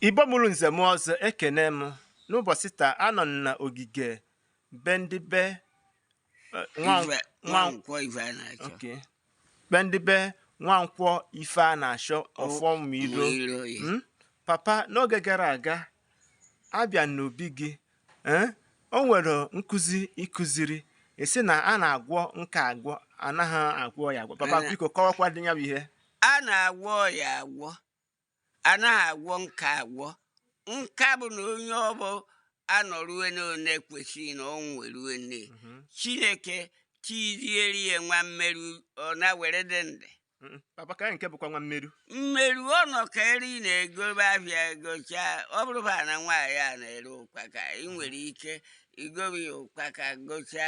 Igbo mụrụ nze mụọ ọzọ ekene m n'ụbọsị taa anọ m na ogige be ndị be eh, nwa- Ife- nwa- Nwankwọ Ifeanachọ okay. be ndị be Nwankwọ Ifeanachọ Ọfọmiro Mma iro, yeah. Mm? papa n'oge gara aga abịa n'obi gị eh, o nwere nkụzi ị kụziri ị sị na a na-agwọ nka agwọ anaghị agwọ ya agwọ papa Ana- biko kọwakwa dị ya bụ ihe a na-agwọ ya agwọ anaghị agwọ nka agwọ nka bụ na onye ọbụna nọrue na one kwesịrị na ọ nwerue nne mhm. chineke tizieri ya nwa mmeru ọ na-were dị ndị papa ka nke bụkwa nwa mmeru mmeru ọ nọ ka eri na-egobe avịa gocha ọ bụrụba na nwaanyị a na-ere ụkpaka ị nwere ike igobe ya ụkpaka gocha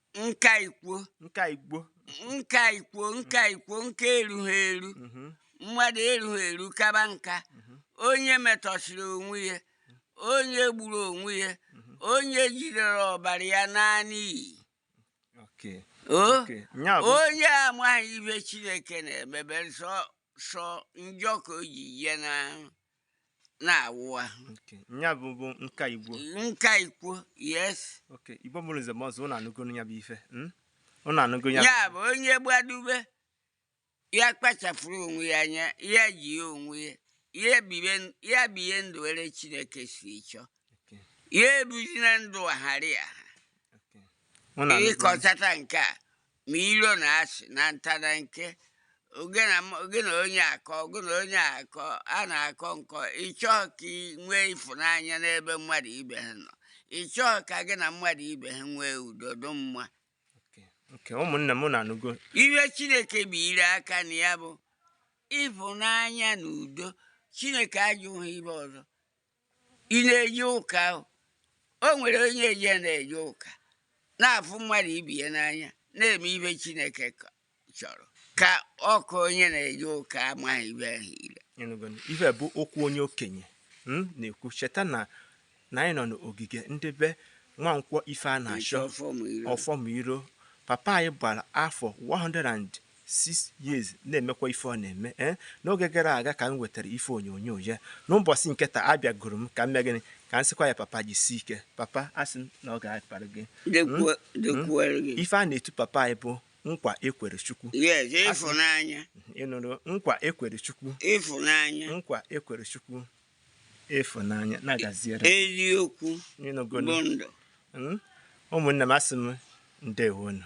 nka ikwo nka ikwo nka ikwo nka ikwo nka erughị eru mhm. mmadụ erughị eru kaba nka mhm. onye metọsịrị onwe ya onye gburu onwe ya mhm. onye jidere ọbara ya naa n'iyi onye amaghị ive chineke na-emebere sọ njọ ka o ji ya na na-awụ ahụ Okay. Nya bụ bụ nka ikwo. nka ikwo yes Okay. Igbo mụrụ nze mụọ ọzọ ụnụ anụgo ya bụ ife. Mm? Ụnụ anụgo ya. ya bụ onye gbadube ya kpachapụrụ onwe ya anya ya ji ya onwe ya ya bibe ya biye ndụ were chineke si chọọ Okay. ya ebuzina ndụ aghara ya Okay. Ụnụ anụgo ya. ịkọtata nke a ma iro na asị na nta na nke oge na m- oge na onye akọ oge na onye akọ a na-akọ nkọ ị chọọ ka ị nwee ịfụnanya n'ebe mmadụ ibe ha nọ ị chọọ ka gị na mmadụ ibe ha nwee udo dị mma nke ụmụnne m na anụgo ive Chineke biri aka na ya bụ ịfụnanya na udo chineke ajụghị ive ọzọ ị na-eje ụka o nwere onye eje na-eje ụka na-afụ mmadụ ibe ya n'anya na-eme ive chineke chọrọ ka ọ ka onye na-eje ụka amaghị ive ahụ ile ife bụ okwu onye okenye hmm, na-ekwu cheta na na anyị nọ n'ogige ndị be Nwankwọ Ifeanachọ Ọfọmiro papa anyị gbara afọ 100 six years na-emekwa ife ọ na-eme ee eh? n'oge gara aga ka m wetara ife onyonyo ya n'ụbọsị nke taa abịagoro m ka m mee gịnị ka m sịkwa ya papa jisi ike papa asị m na ọ ga-akpara gị hmm? Hmm? ife a na-etu papa anyị bụ nkwa e kwere chukwu ịfụnanya ị nụrụ nkwa e kwere chukwu ịfụnanya nkwa e kwere chukwu ịfụnanya na-agaziere eziokwu bụ ndụ hmm? ụmụnne m asị m ndeewonụ